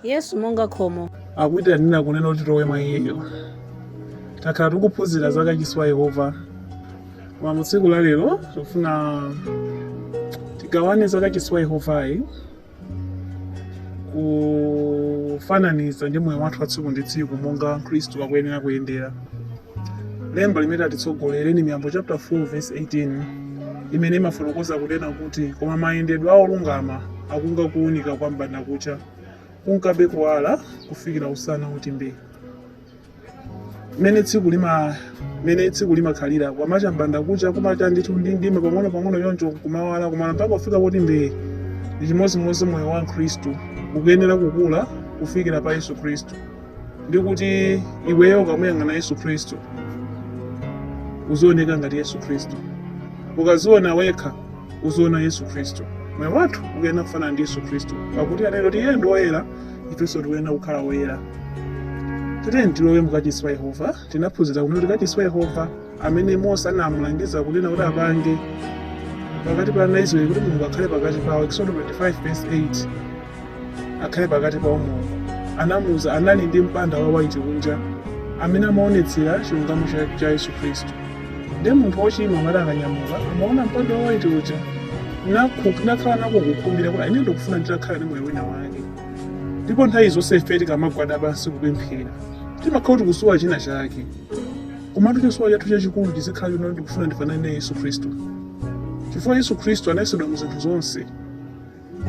yesu monga khomo akuitanira kunena kuti tilowe mwa iyeyo takhala tikuphunzira za kachisi wa yehova koma mu tsiku la lero tikufuna tigawane za kachisi wa yehovayi kufananiza ndi moyo wathu wa tsiku ndi tsiku monga khristu akuyenera kuyendera lemba limene atitsogolere ni miyambo chapter 4 verse 18 imene imafotokoza kunena kuti koma mayendedwe a olungama akunga kuwunika kwa m'bandakucha kunkabe kuwala kufikira usana woti mbee mmene tsiku limakhalira kwamacha m'bandakucha kumacha ndithu ndi mdima pang'ono pang'ono choncho kumawala kumawala mpaka kufika poti mbee ndi chimodzimodzi moyo wa mkhristu ukuyenera kukula kufikira pa yesu khristu ndi kuti iweyo ukamuyang'ana yesu khristu uzioneka ngati yesu khristu ukadziona wekha uziona yesu khristu moyo wathu ukuyenera kufanana ndi yesu khristu pakuti anena kuti iye ndi woyera ifenso tikuyenera kukhala woyera tiyeni tilowe mukachisi wa yehova tinaphunzira kuti kachisi wa yehova amene mose anamulangiza kunena kuti apange pakati pa ana a israeli kuti mulungu akhale pakati pawo exodo 25 verse 8 akhale pakati pawo mulungu anamuuza anali ndi mpanda wa waiti kunja amene amaonetsera chilungamo cha- cha yesu khristu ndiye munthu wochimwa amati akanyamuka amaona mpanda wa waiti uja nakhu- nakhala nako kukhumbira kuti ine ndikufuna nditakhala ndi moyo wina wake ndipo nthawi zonse ife tikamagwada pansi kupemphera timakhala kuti tikusowa china chake Komatu chisowa chathu chachikulu chizikhala chonena kuti ndikufuna ndifanane naye Yesu Khristu, chifukwa Yesu Khristu anayesedwa mu zinthu zonse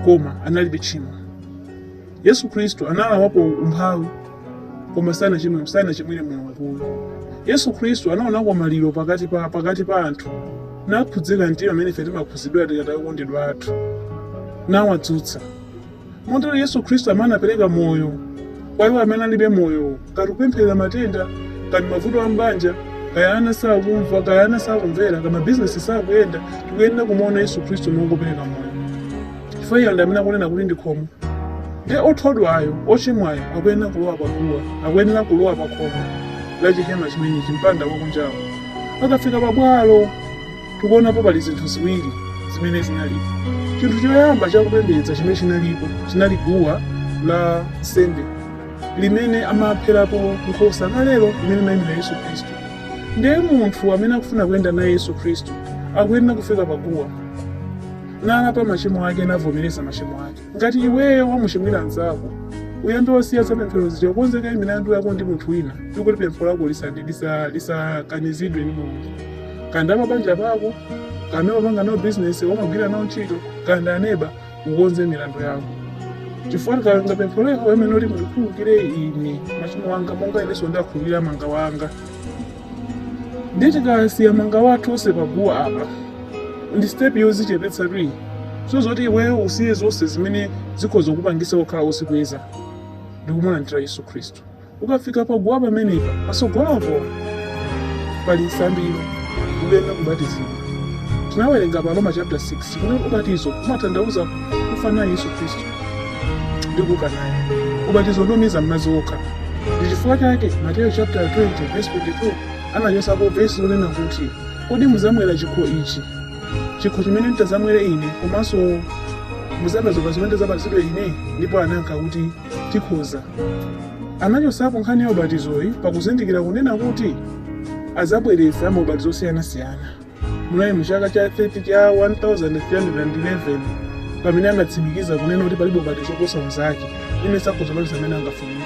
koma analibe tchimo. Yesu Khristu analawapo umphawi koma sanachimwe sanachimwire Mulungu. Yesu Khristu anaonako maliro pakati pa pakati pa anthu nakhudzika mtima mmene ife timakhudzidwira tikataya okondedwa athu nawadzutsa. Motero Yesu Kristu amene anapereka moyo kwa iwo amene alibe moyo, kaya tikupempherera matenda, kaya ndi mavuto a m'banja, kaya ana sakumva, kaya ana sakumvera, kaya mabizinesi sakuyenda, tikuyenera kumuona Yesu Kristu monga wopereka moyo. Chifukwa iye ndi amene akunena kuti ndi khomo. Ndiye othodwayo, ochimwayo, akuyenera kulowa paguwa, akuyenera kulowa pa khomo la chihema chimenechi, mpanda wakunjawo. Akafika pabwalo, tikuonapo pali zinthu ziwiri zimene zinalipo chinthu choyamba chakupembedza chimene chinalipo chinali guwa la nsembe limene amapherapo nkhosa kalelo limene limayimira yesu khristu ndiye munthu amene akufuna kuyenda naye yesu khristu akuyenera kufika pa guwa nalapa machimo ake navomereza machimo ake Ngati iweyo wamuchimwira mnzako, uyambe wasiya za pemphero zija ukonze kaye milandu yako ndi munthu wina ndi kuti pempho lako lisandi- lisa- lisakanizidwe ndi mulungu kaya ndi pabanja pako kaya ndi omapanga nawo bizinesi omagwira nawo ntchito kaya ndi aneba ukonze milandu yako chifukwa tikanga pempho lako amene uli mundikhululukire ine machimo anga monga inenso ndakhululukira mangawa anga ndiye tikasiya mangawa athu onse paguwa apa ndi step yozichepetsatu iyi so zoti iweyo usiye zonse zimene zikhoza kupangisa kukhala ozikweza ndikumulandira yesu khristu ukafika paguwa pamenepa pasogolopo pali nsambiro ukuyenera kubatizidwa tinawerenga pa aroma chapter 6 kuti ubatizo umatanthauza kufa naye yesu khristu ndi kuuka naye ubatizo ndi womiza m'madzi okha ndi chifukwa chake mateyo chapter 20 verse 22 anachotsapo vesi lonena kuti kodi muzamwera chikho ichi chikho chimene nditazamwere ine komanso muzabatizidwa zimene nditazabatizidwe ine ndipo anayankha kuti tikhoza anachotsapo nkhani ya ubatizoyi pakuzindikira kunena kuti azabweretsa maubatizo osiyanasiyana Munali mu chaka cha 13 cha 1311 pamene anatsimikiza kunena kuti palibe ubatizo oposa unzake aliyense akhoza kubatiza mmene angafunire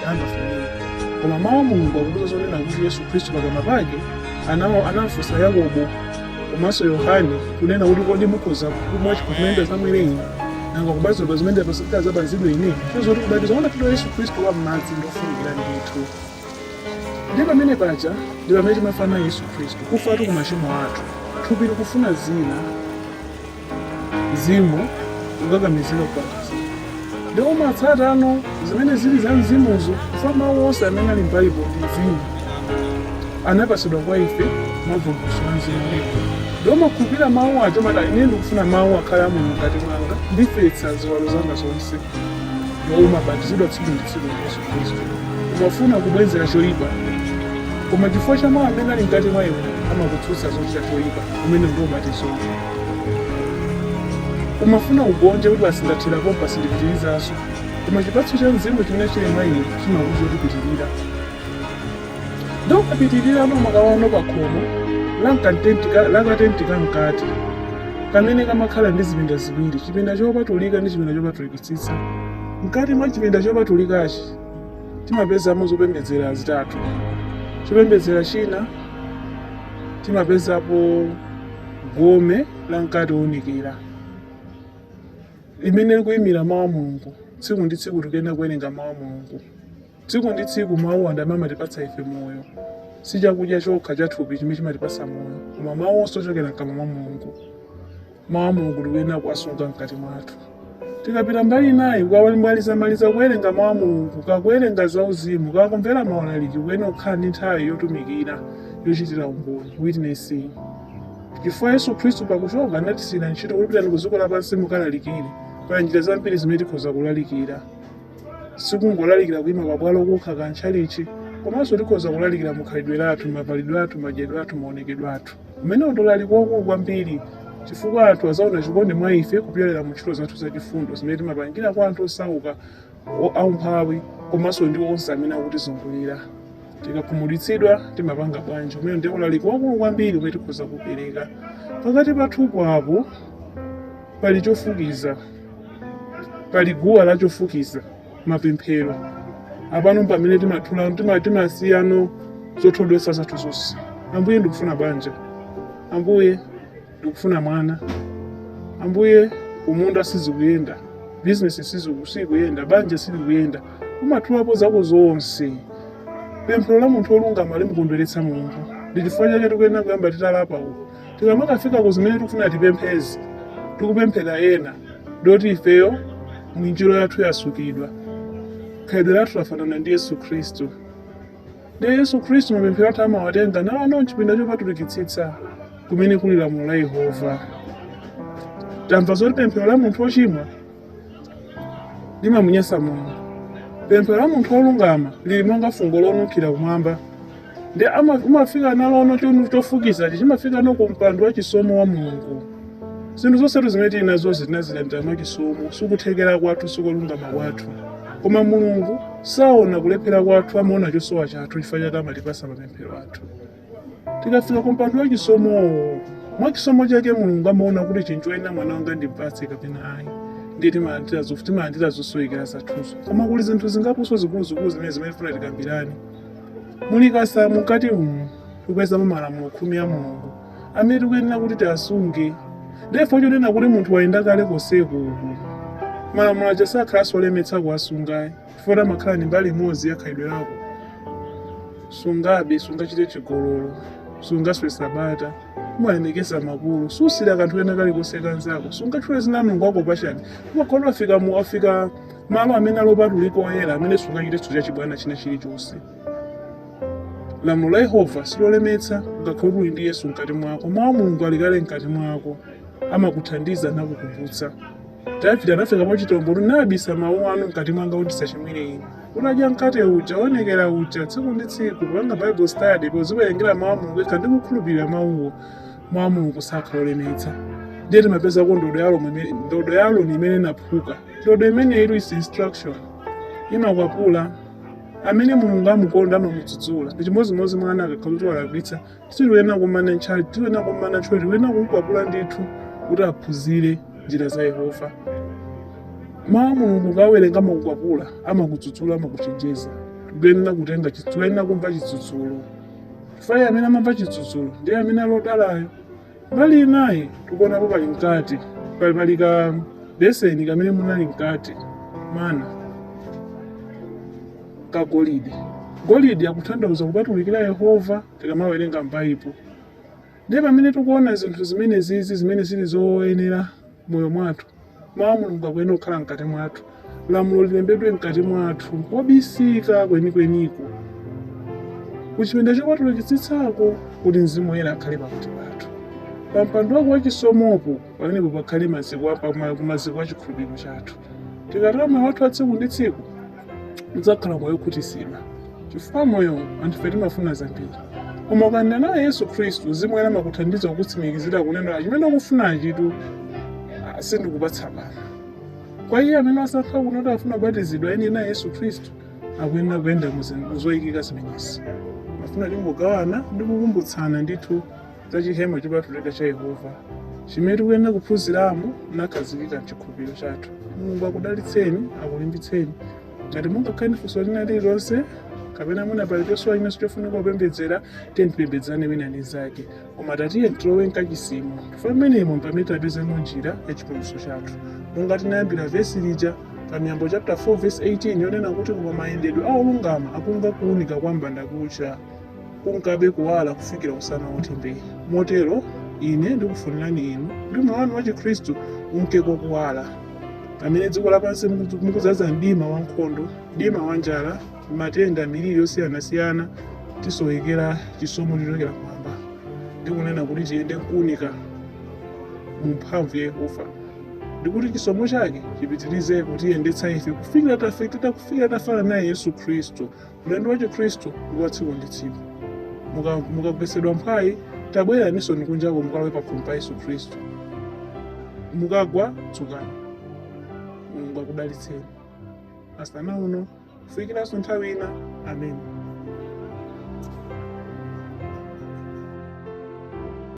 koma mawu a mulungu akutiuza zonena kuti yesu khristu pakamwa pake anawafunsa yakobo komanso yohane kunena kuti kodi mukhoza kumwa chikho chimene ndizamwere ine nanga kubatizidwa zimene nditazabatizidwe ine so zoti ubatizo wonapita yesu khristu wa m'madzi ndofunikira ndithu ndi pamene paja ndi pamene timafa naye yesu khristu kufatu ku machimo athu thupi likufuna zina mzimu ukukakamizira kupatasa ndikumatsatano zimene zili za mzimuzo chifukwa mawu onse amene ali m'baibulo ndi mzimu anapasidwa kwa ife mavumbulutso a mzimu wiko ndikumakhulupirira mawu aja kumati ine ndikufuna mawu akhale a mulungu mkati mwanga ndifetsa ziwalo zanga zonse ndikumabatizidwa tsiku ndi tsiku ndi yesu khristu umafuna kubwenzera choyipa koma chifukwa cha mawu amene ali mkati mwa iwe amakutsutsa zochita choyipa umene ndi ubatizo umafuna ugonje kuti basi ndathera pompa sindipitirizanso koma chipatso cha mzimu chimene chili mwa iwe chimakuuza kuti pitirira ndi ukapitirirano umakaona pa khomo la katenti ka mkati kamene kamakhala ndi zipinda ziwiri chipinda chopatulika ndi chipinda chopatulikitsitsa Mkati mwa chipinda chopatulikachi timapezamo zopembedzera zitatu. Chopembedzera china timapezapo gome la mkate woonekera limene likuyimira mawu a Mulungu. Tsiku ndi tsiku tikuyenera kuwerenga mawu a Mulungu. Tsiku ndi tsiku mawu ndi amene amatipatsa ife moyo. Si chakudya chokha cha thupi chimene chimatipatsa moyo, koma mawu onse ochokera mkamwa mwa Mulungu. Mawu a Mulungu tikuyenera kuwasunga mkati mwathu. Tikapita mbali inayi tikamalizamaliza kuwerenga mawu a Mulungu, kakuwerenga zauzimu, kakumvera maulaliki, kuyenera kukhala ndi nthawi yotumikira, yochitira umboni, witnessing. Chifukwa Yesu Khristu pakuchoka anatisiyira ntchito kuti pitani ku dziko lapansi mukalalikire. Pali njira zambiri zimene tikhoza kulalikira. sikungolalikira kuima pabwalo kokha kapena m'tchalitchi komanso tikhoza kulalikira mukhalidwe lathu mavalidwe athu madyedwe athu maonekedwe athu umenewu ndi ulaliki wakulu kwambiri chifukwa anthu azaona chikondi mwa ife kupyolera mu ntchito zathu zachifundo zimene timapangira kwa anthu osauka aumphawi komanso ndi onse amene akutizungulira tikakhumudwitsidwa timapanga bwanji umene ndi ulaliki wakulu kwambiri umene tikhoza kupereka pakati pathupo apo pali chofukiza pali guwa la chofukiza mapemphero apano pamene timathula tima- timasiyano zothodwesa zathu zonse ambuye ndikufuna banja ambuye ndikufuna mwana ambuye kumundaku sizikuyenda bizinesi siziku- sikuyenda banja silikuyenda umathulapo zako zonse pemphero la munthu olungama limamukondweretsa mulungu ndi chifukwa chake tikuyenera kuyamba titalapa uku tikamakafika uku zimene tikufuna tipemphezi tikupempherera ena ndoti ifeyo mwinjiro yathu yasukidwa khalidwe lathu lafanana ndi yesu khristu ndiye yesu khristu mapemphero athu amawatenga nawo no mchipinda chopatulikitsitsa kumene kuli lamulo la yehova tamva zoti pemphero la munthu wochimwa limamunyansa mulungu pemphero la munthu wolungama lili monga fungo lonunkhira kumwamba ndi ama- umafika nalono cho- chofukizachi chimafika no ku mpando wa chisomo wa mulungu zinthu zonsetu zimene tili nazozi tinazilandira mwa chisomo sikuthekera kwathu sikulungama kwathu koma mulungu saona kulephera kwathu amaona chosowa chathu chifukwa chake amatipasa mapemphero athu tikafika ku mpando wa chisomowo mwa chisomo chake mulungu amaona kuti chinthu choyenera mwana wanga ndipatse kapena ayi ndiye timalandira zofu timalandira zosowekera zathuzo koma kuli zinthu zingaponso zikuluzikulu zimene zimene tifuna tikambirane mu likasa mukati umu tikupezamo malamulo khumi a mulungu amene tikuyenera kuti tiasunge ndiye pochoona kuti munthu wayenda kale konseku uku malamulo aja sakhalanso olemetsa kuwasungayi chifukwa amakhala ndi mbali imodzi ya khalidwe lako sungabe sungachite chigololo sungaswe sabata umalemekeza makolo susirira kanthu kena kalikonse kanzako sungatchule dzina la mulungu wako pachabe umakhalano wafika mu wafika malo amene ali opatulika oyera amene sungachitenso cha chibwana china chilichonse lamulo la yehova silolemetsa ngati uli ndi yesu mkati mwako mawu a mulungu ali kale mkati mwako amakuthandiza nakukumbutsa Davide anafika mwachitombolo ndabisa mawu anu mkati mwanga kuti ndisachimwire inu. Unadya mkate uja, woonekera uja, tsiku ndi tsiku, kupanga Bible study, podziwerengera mawu a Mulungu wekha ndi kukhulupirira mawuwo. Mawu a Mulungu sakhala olemetsa. Ndiye timapezako ndodo ya Aroni imene inaphuka. Ndodo imene ili is instruction. Imakwapula. Amene Mulungu amukonda amamudzudzula. Ndi chimodzimodzi mwana akakhala kuti walakwitsa sitiyenera kumana ntchali tiyenera kumana ntchito tikuyenera kumkwapula ndithu kuti aphunzire njira za yehova mawu a mulungu ukawerenga amakukwapula amakudzudzula amakuchenjeza tikuyenera kutenga chitsu- tikuyenera kumva chidzudzulo chifukwa amene amamva chidzudzulo ndiye amene ali odalayo Mbali inayi tikuonapo pali mkate, pali pali ka beseni kamene munali mkate mana ka golidi. Golidi akutanthauza kupatulikira Yehova tikamawerenga m'Baibulo. Ndiye pamene tikuona zinthu zimenezizi zimene zili zoyenera moyo mwathu. Mawu a Mulungu akuyenera kukhala mkati mwathu. Lamulo lilembedwe mkati mwathu, kobisika kwenikweniko. Ku chipinda chopatulikitsitsako kuti Mzimu Woyera akhale pakati pathu. Pa mpando wake wachisomopo, pamenepo pakhale maziko a- pa ma- maziko a chikhulupiriro chathu. Tikatero moyo wathu wa tsiku ndi tsiku, udzakhala moyo okhutitsidwa chifukwa moyo anthu ife timafuna zambiri koma ukayenda naye yesu khristu mzimu woyera amakuthandiza kukutsimikizira kunena chimene ukufunachitu ah, sindikupatsa pano kwa iye amene wasankha kunena kuti afuna kubatizidwa ayende naye yesu khristu akuyenera kuyenda mu zoyikika zimenezi ndimafuna tingogawana ndi kukumbutsana ndithu za chihema chopatulika cha Yehova chimene tikuyenera kuphunziramo ndi kukhazikika mchikhulupiriro chathu. Mulungu akudalitseni, akulimbitseni. Ngati mungakhale funso lina lililonse kapena mwina pali chosowa chinanso chofunika kupembedzera tiyeni tipembedzane wina ndi mnzake koma tatiyeni tilowe mkachisimo chifukwa mmenemo pamene tapezamo njira ya chipulumutso chathu monga tinayambira vesi lija pa miyambo chapter 4 verse 18 yonena kuti koma mayendedwe a olungama akunga kuunika kwa mbandakucha kunkabe kuwala kufikira usana woti mbee motero ine ndikufunirani inu kuti moyo wanu wachikhristu unke ku kuwala pamene dziko lapansi muku- mukudzaza mdima wa nkhondo mdima wa njala matenda miliri yosiyanasiyana tisowekera chisomo chochokera kumwamba ndikunena kuti tiyende kuunika mu mphamvu ya yehova ndikuti chisomo chake chipitirize kutiyendetsa ife kufikira ta- kufikira tafana naye yesu khristu Ulendo wa Chikhristu ndi wa tsiku ndi tsiku. Muka- Mukagwetsedwa mphwayi, tabwereraninsoni kunjako mukalowe pakhomo pa Yesu Khristu. Mukagwa, dzukani. Mulungu akudalitseni. Masana ano, kufikiranso nthawi ina. Ameni.